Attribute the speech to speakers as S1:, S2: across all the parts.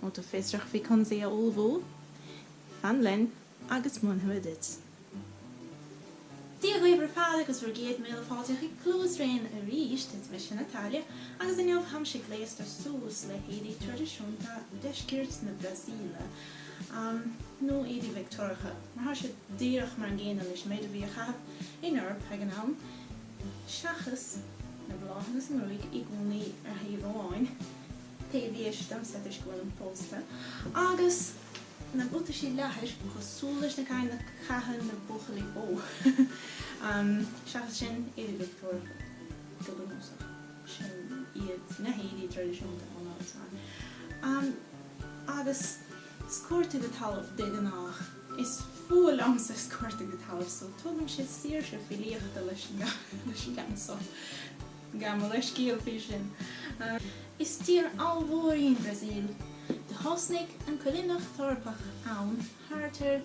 S1: Má tá tú fiosrach faoi conas é a ullmhú, fan linn agus múinfimid duit. Dia dhaoibh ar fad agus bhur gcéad míle fáilte chuig Cluas rain arís, is mise Natália agus inniu táimse gléasta suas le héadaí traidisiúnta deisceart na Brasaíle, nó éadaí Victeoiriacha, mar tá siad díreach mar an gcéanna leis an méid a bhí á chaitheamh in Eoraip ag an am. Seachas na bláthanna sa ngruaig i gcónaí ar thaobh amháin, taobh dheis domsa toisc go bhfuilim pósta, agus na buataisí leathair cosúil leis na cinn a chaitheann na buachaillí bó, seachas sin, éadaí Victeoiriacha go bunúsach. Sin iad na héadaí traidisiúnta ón áit sin. Agus sciorta go talamh de ghnách. Is fuath liomsa sciorta go talamh so tugann sé saoirse filíochta leis an gceann so. Gabh mo leithscéal faoi sin. Is tír ollmhór í an Bhrasaíl. Do thosnaigh an coilíneacht Eorpach ann thart ar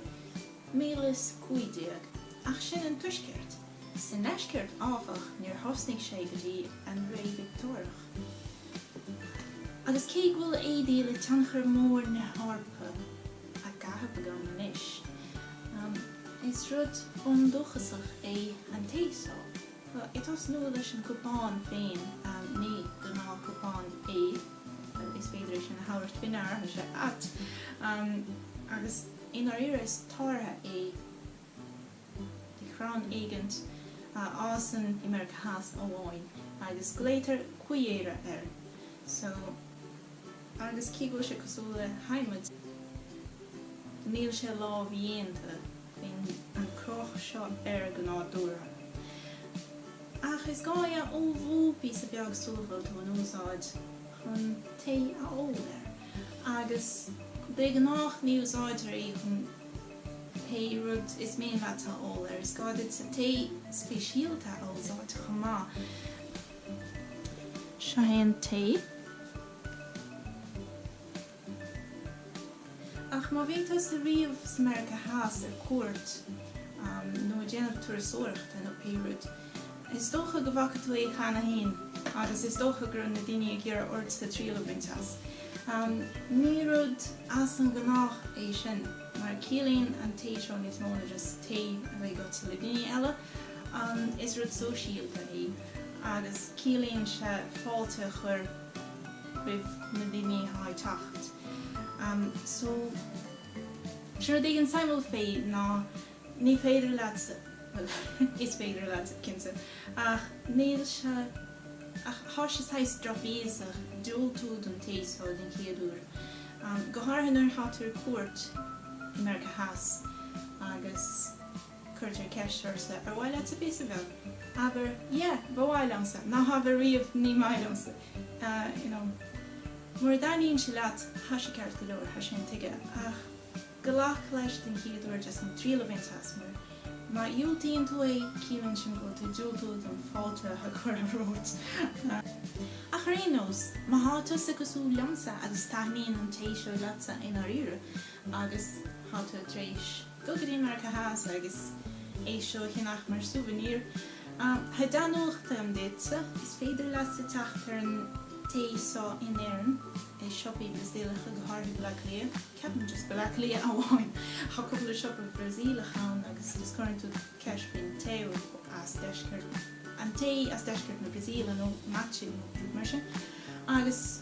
S1: 1500, ach sin an tuaisceart. Sa ndeisceart, áfach, níor thosnaigh sé go dtí an ré Victeoiriach. Agus cé go bhfuil éadaí le tionchar mór na hEorpa, á gcaitheamh agam anois. Is rud bundúchasach é an tae so ag tosnú leis an gcupán féin ní gnáthchupán é, is féidir é sin a thabhairt faoi ndeara, tá sé ait, agus i ndáiríre is táirge é de chrann éigint a fhásann i Meiriceá Theas amháin agus glaotar cuieira air. So. agus cé go bhfuil sé cosúil le hadhmaid, níl sé lámhdhéanta bíonn an cruth seo air go nádúrtha. Ach is gá é a ullmhú píosa beag sula bhfuil tú in úsáid chun tae a ól air agus de gnách ní úsáidtear é chun pé rud is mian leat a ól air, is gá duitse tae speisialta a úsáid chomh maith. Seo é an tae. Ach má bhíonn tusa riamh sa Meiriceá Theas ar cuairt nó ag déanamh turasóireachta nó pé rud, is dócha go bhfaca tú é cheana féin agus is dócha go raibh na daoine ag iarraidh ortsa triail a bhaint as. Ní rud as an ghnách é sin mar ciallaíonn an tae seo níos mó na just tae a bheith agatsa le daoine eile, is rud sóisialta é. agus ciallaíonn sé fáilte a chuir roimh na daoine atá ag teacht. So, sé rud éigin suimiúil faoi ná ní féidir leat, bhuel, is féidir leat, cinnte, ach níl sé, ach tá sé saghas drochbhéasach diúltú don tae seo den chéad uair, go háirithe nuair atá tú ar cuairt i Meiriceá Theas agus. Cuirtear ceist ortsa, Ar mhaith leatsa píosa beag? Abair, Yeah, ba mhaith liomsa. Ná habair riamh, Ní maith liomsa. You know. Mura dtaitníonn sé leat, tá sé ceart go leor, tá sé intuigthe. Ach glac leis den chéad uair just chun triail a bhaint as mar má dhiúltaíonn tú é, ciallaíonn sin go bhfuil tú ag diúltú don fáilte atá curtha romhat. Ach ar aon nós, má tá tusa cosúil liomsa agus taitníonn an tae seo leatsa i ndáiríre agus tá tú tar éis. Go dtí Meiriceá Theas agus é seo a cheannach mar souvenir. Tá dea-nuacht agam duitse. Is féidir leat teacht ar an tae seo in Éirinn, i siopaí Brasaíleacha, go háirithe Bleá Cliath. Ceapaim just Bleá Cliath amháin. Tá cúpla siopa Brasaíleach ann agus just cuireann tú ceist faoin tae as deisceart, an tae as deisceart na Brasaíle nó mate nó rud mar sin. Agus.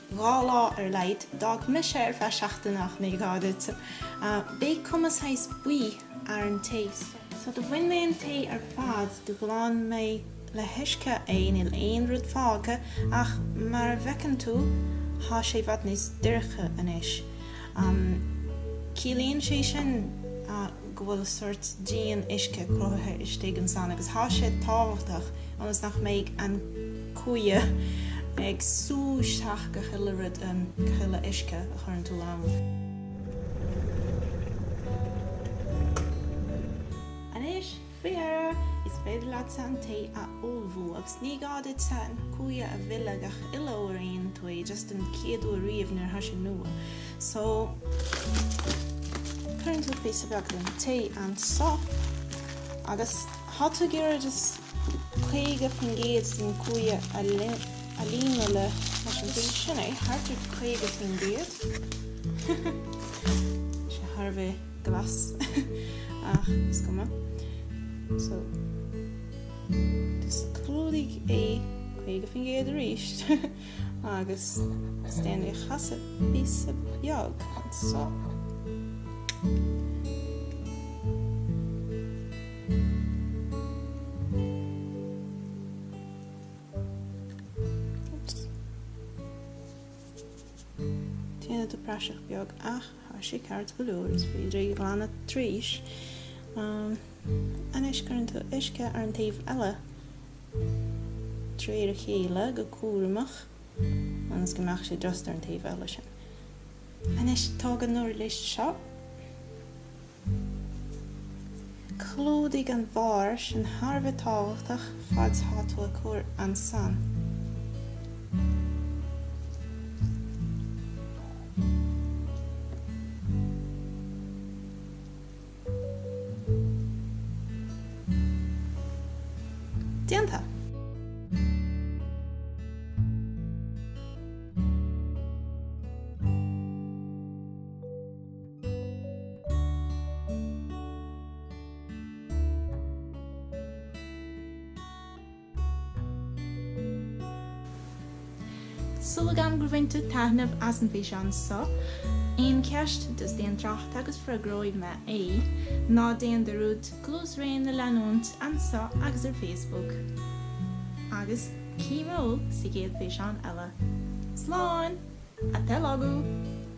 S1: Dhá lá ar a laghad. D'fhág mise é ar feadh seachtaine ach ní gá duitse. Beidh cuma saghas buí ar an tae so do bhain mé an tae ar fad, do ghlan mé le huisce é, níl aon rud fágtha ach mar a bhfeiceann tú thá sé i bhfad níos doirche anois. Ciallaíonn sé sin go bhfuil sort díon uisce cruthaithe istigh ansan agus thá sé tábhachtach ionas nach mbeidh an. Cuia ag sú isteach gach uile rud, an chuile uisce a chuireann tú ann. Anois, faoi dheireadh, is féidir leatsa an tae a ullmhú agus ní gá duitse an cuia a mhilleadh gach uile uair a dhéanann tú é, just an chéad uair riamh nuair atá sé nua. So, cuireann tú píosa beag den tae anso agus tá tú ag iarraidh just 50% den cuia a líonadh leis an tae. Sin é, thart ar 50%. Tá sé thar a bheith glas, ach is cuma. So, just clúdaigh é 50% arís, agus just déan é a chasadh píosa beag anseo. Déanann tú praiseach beag ach tá sé ceart go leor is féidir í a ghlanadh tar éis. Anois cuireann tú uisce ar an taobh eile tríd a chéile go cúramach ionas go mbeadh sé just ar an taobh eile sin. Anois tóg an uirlis seo. Clúdaigh an bharr sin thar a bheith tábhachtach fad 's tá tú ag cur ansan. Déanta! Súil agam gur bhain tú taitneamh as an bhfíseán so, aon cheist just déan trácht agus freagróidh mé é. Ná déan dearúd Clisare a leanúint anso agus ar Facebook. Agus cífidh mé thú sa gcéad físeán eile. Slán! Slán go fóill!